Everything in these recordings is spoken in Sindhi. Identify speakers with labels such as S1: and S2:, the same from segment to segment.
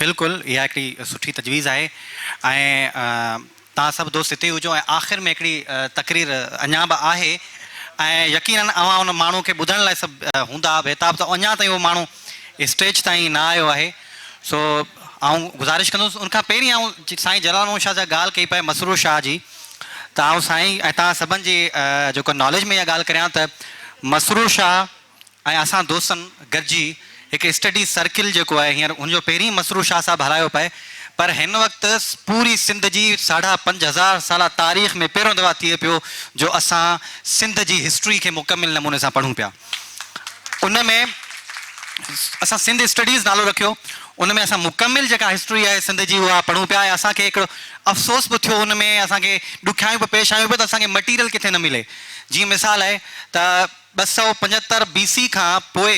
S1: بلڪل اها هڪڙي سٺي تجويز آهي ۽ توهان سڀ دوست هتي هجو ۽ آخر ۾ هڪڙي تقرير اڃا به آهي ۽ يقينن اوهان ان ماڻهو کي ٻڌڻ لاء سڀ هوندا بيتاب ته اڃا تائين اهو ماڻهو اسٽيج تائين نه آيو آهي سو آئون گذارش ڪندس ان کان پهرين آئون سائين جلال محمد شاهه سان ڳالهه ڪئي پئي مسرور شاهه جي ته آئون سائين ۽ توهان سڀن جي جيڪو ناليج ۾ اها ڳالهه ڪريان ته مسرور شاهه ۽ اسان دوستن گڏجي هڪ اسٽڊي سرڪل جيڪو آهي هينئر ان جو پهرين مسرور شاهه صاحب هلايو پئي پر هن وقت پوري سنڌ جي ساڍا پنج هزار سالا تاريخ ۾ پهريون دفعا ٿئي پيو جو اسان سنڌ جي هسٽري کي مڪمل نموني سان پڙهون پيا ان ۾ اسان سنڌ اسٽڊيز نالو رکيو ان ۾ اسان مڪمل جيڪا هسٽري آهي سنڌ جي اها پڙهون پيا ۽ اسان کي هڪڙو افسوس به ٿيو ان ۾ اسان کي ڏکيائيون به پيش آيون پيون ته اسان کي مٽيريل ڪٿي نه ملي جيئن مثال آهي ته ٻه سؤ پنجهتر بي سي کان پوء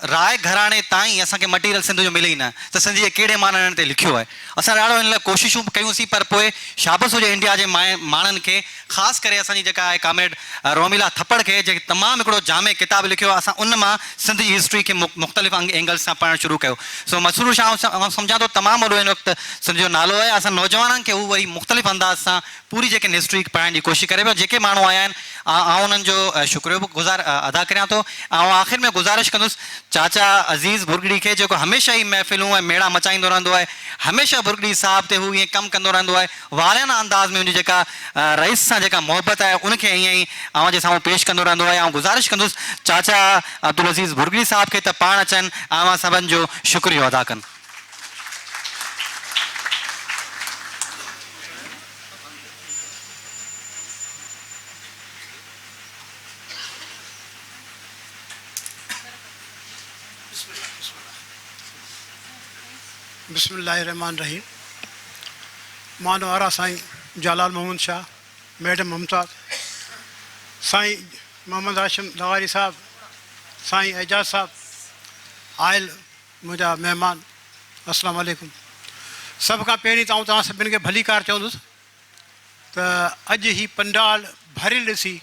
S1: راء گهراڻي تائين اسان کي مٽيريل سنڌ جو ملي ئي نه ته سنڌ جي ڪهڙي ماڻهن هن تي لکيو آهي. اسان ڏاڍو ان لاء ڪوششون به ڪيون سين پر پوء شابس هجي انڊيا جي ماڻهن کي خاص ڪري اسان جي جيڪا آهي ڪامريڊ روميلا ٿپڙ کي جنهن تمام هڪڙو جامع ڪتاب لکيو آهي اسان ان مان سنڌ جي هسٽري کي مختلف اينگلز سان پڙهڻ شروع ڪيو سو مسرور شاهه آئون سمجهان ٿو تمام وڏو ان وقت سنڌ جو نالو آهي اسان نوجوانن کي هو وري مختلف انداز سان پوري جيڪي نسٽري پڙهائڻ جي ڪوشش ڪري پيو جيڪي ماڻهو آيا آهن آئون انهن جو شڪريو به گذار ادا ڪريان ٿو آئون آخر ۾ گذارش ڪندس چاچا عزيز ڀرڳڙي کي جيڪو هميشه هي محفلون ۽ ميڙا مچائيندو رهندو آهي هميشه ڀرڳڙي صاحب تي هو ائين ڪم ڪندو رهندو آهي والهانه انداز ۾ هن جي جيڪا رئيس سان جيڪا محبت آهي ان کي ائين ئي اوهان جي سامهون پيش ڪندو رهندو آهي آئون گذارش ڪندس چاچا عبدالعزيز ڀرڳڙي صاحب کي ته پاڻ اچن آئون اوهان سڀن جو شڪريو ادا ڪن.
S2: بسم الله الرحمٰن الرحيم مان وارا سائين جالال محمد شاھ ميڊم ممتاز سائين محمد هاشم لغاري صاحب سائين اعجاز صاحب آيل منهنجا مهمان السلام عليڪم سڀ کان پهرين ته آئون توهان سڀني کي ڀليڪار چوندس ته اڄ هي پنڊال ڀريل ڏسي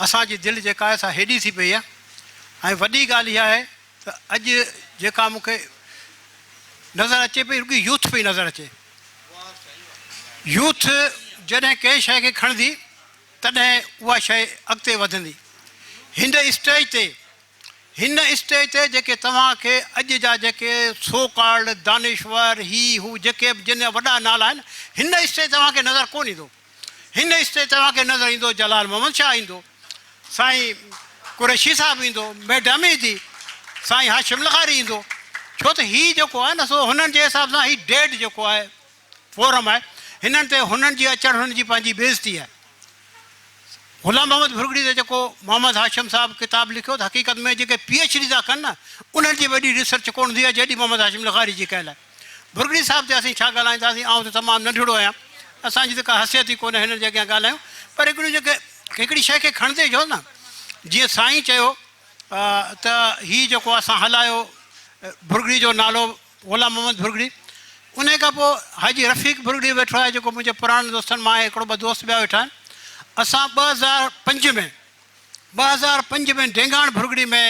S2: اسان جي دل جيڪا آهي سا هيڏي ٿي پئي آهي ۽ وڏي ڳالهه اها آهي ته اڄ جيڪا مون کي نظر اچي پئي رڳي يوٿ پئي نظر اچي يوٿ جڏهن ڪنهن شيء کي کڻندي تڏهن اها شيء اڳتي وڌندي هن اسٽيج تي هن اسٽيج تي جيڪي توهان کي اڄ جا جيڪي سو ڪالڊ دانشور هي هو جيڪي به جن جا وڏا نالا آهن هن اسٽيج تي توهان کي نظر ڪونه ايندو هن اسٽيج تي توهان کي نظر ايندو جلال محمد شاهه ايندو سائين قريشي صاحب ايندو ميڊم ايندي سائين هاشم لغاري ايندو ڇو ته هي جيڪو آهي نه سو هنن جي حساب سان هي ڊيڊ جيڪو آهي فورم آهي هنن تي هنن جي اچڻ هنن جي پنهنجي بي عزتي آهي غلام محمد ڀرڳڙي تي جيڪو محمد هاشم صاحب ڪتاب لکيو ته حقيقت ۾ جيڪي پي ايڇ ڊي ٿا ڪن نه انهن جي وڏي ريسرچ ڪونه ٿي آهي جيڏي محمد هاشم لغاري جي ڪيل آهي ڀرڳڙي صاحب تي اسين ڇا ڳالهائينداسين آئون ته تمام ننڍڙو آهيان اسان جي ته ڪا حثيت ئي ڪونه هنن جي اڳيان ڳالهايون پر هڪڙيون جيڪي هڪڙي شيء کي کڻندي جو نه جيئن سائين چيو ته هي جيڪو اسان هلايو ڀرڳڙي جو نالو غلام محمد ڀرڳڙي انهي کان پوء حاجي رفيق ڀرڳڙي ويٺو آهي جيڪو منهنجي پراڻن دوستن مان آهي هڪڙو ٻه دوست ٻيا ويٺا آهن اسان ٻه هزار پنج ۾ ٻه هزار پنج ۾ ڊينگاڻ ڀرڳڙي ۾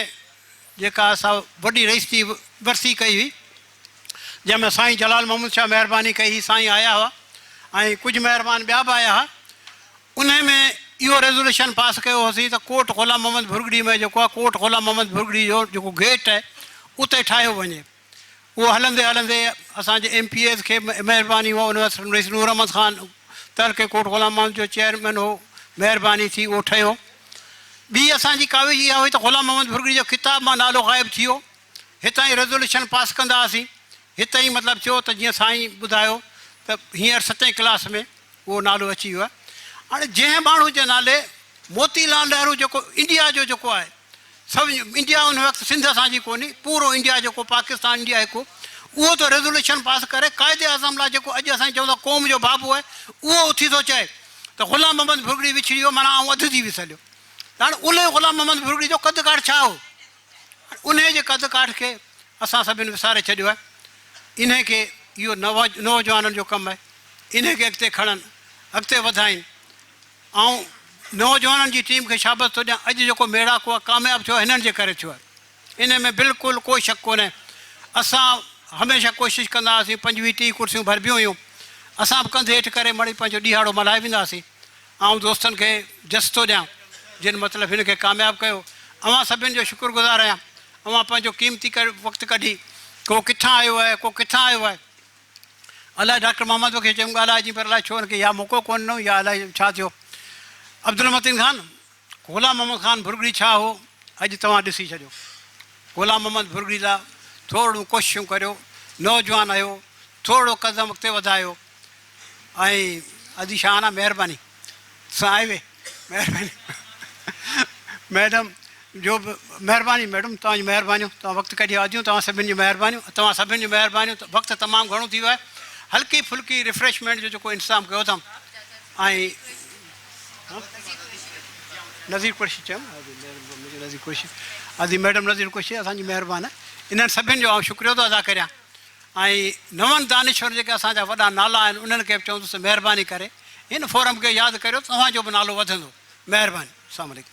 S2: جيڪا اسان وڏي رئيس جي ورسي ڪئي هئي جنهن ۾ سائين جلال محمد شاهه مهرباني ڪئي هئي سائين آيا هئا ۽ ڪجهه مهربان ٻيا به آيا هئا انهيء ۾ اهو ريزوليوشن پاس ڪيو هوسين ته ڪوٽ غلام محمد ڀرڳڙي ۾ جيڪو آهي ڪوٽ غلام محمد ڀرڳڙي جو جيڪو گيٽ آهي اتي ٺاهيو وڃي. اهو هلندي هلندي اسان جي ايم پي ايز کي مهرباني هئا ان وقت رئيس نور احمد خان تر کي ڪوٽ غلام محمد جو چيئرمين هو مهرباني ٿي اهو ٺهيو. ٻي اسان جي ڪاوش اها هئي ته غلام محمد ڀرڳڙي جو ڪتاب مان نالو غائب ٿي ويو هتان ئي ريزوليوشن پاس ڪندا هئاسين هتي ئي مطلب ٿيو ته جيئن سائين ٻڌايو ته هينئر ستين ڪلاس ۾ اهو نالو اچي ويو آهي. هاڻي جنهن ماڻهو جي نالي موتي لال نهرو جيڪو انڊيا جو جيڪو آهي سو انڊيا ان وقت سنڌ اسان جي ڪونهي پورو انڊيا جيڪو پاڪستان انڊيا هڪ هو اهو ٿو ريزوليوشن پاس ڪري قائد اعظم لاء جيڪو اڄ اسان چون ٿا قوم جو بابو آهي اهو اٿي ٿو چئي ته غلام محمد ڀرڳڙي وڇڙي ويو معنيٰ آئون اڌ ٿي وسهليو هاڻي ان غلام محمد ڀرڳڙي جو قد ڪاٺ ڇا هو انهيء جي قد ڪاٺ کي اسان سڀني وساري ڇڏيو آهي. انهيء کي اهو نوجوانن جو ڪم آهي. انهيء کي اڳتي کڻن، اڳتي وڌائين. آئون نوجوانن جي ٽيم کي شابس ٿو ڏيان. اڄ جيڪو ميڙاڪو آهي، ڪامياب ٿيو آهي، هنن جي ڪري ٿيو آهي. انهيء ۾ بلڪل ڪو شڪ ڪونهي. اسان هميشه ڪوشش ڪندا هئاسين، پنجويهه ٽيهه ڪرسيون ڀربيون هيون. اسان به ڪنڌ هيٺ ڪري مڙئي پنهنجو ڏيهاڙو ملهائي ويندا هئاسين. آئون دوستن کي جس ٿو ڏيان، جن مطلب هن کي ڪامياب ڪيو. اوهان سڀني جو شڪر گذار آهيان. اوهان پنهنجو قيمتي وقت ڪڍي، ڪو ڪٿان آيو آهي، ڪو ڪٿان آيو آهي. الائي ڊاڪٽر محمد بخش چيم ڳالهائجين پر الائي ڇو هن کي يا موقعو ڪونه ڏنو يا الائي ڇا ٿيو. عبدالمتين خان، غلام محمد خان ڀرڳڙي ڇا هو، اڄ توهان ڏسي ڇڏيو. غلام محمد ڀرڳڙي لاء ٿورڙيون ڪوششون ڪريو، نوجوان هيو، ٿورڙو قدم اڳتي وڌايو. ۽ ادي شاهانه مهرباني سان آئي وي مهرباني ميڊم جو به مهرباني ميڊم توهان جي مهربانيون توهان وقت ڪڍي آديون توهان سڀن جي مهربانيون توهان سڀن جي مهربانيون وقت تمام گهڻو ٿي ويو آهي هلڪي ڦلڪي ريفريشمينٽ جو جيڪو انتظام ڪيو اٿم نظير قرشي چيم نظير قرشي ادي ميڊم نظير قرشي اسان جي مهربان انهن سڀن جو آئون شڪريو ٿو ادا ڪريان ۽ نون دانشور جيڪي اسان جا وڏا نالا آهن انهن کي به چوندس ته مهرباني ڪري هن فورم کي ياد ڪريو ته اوهان جو به نالو وڌندو مهرباني السلام عليڪم.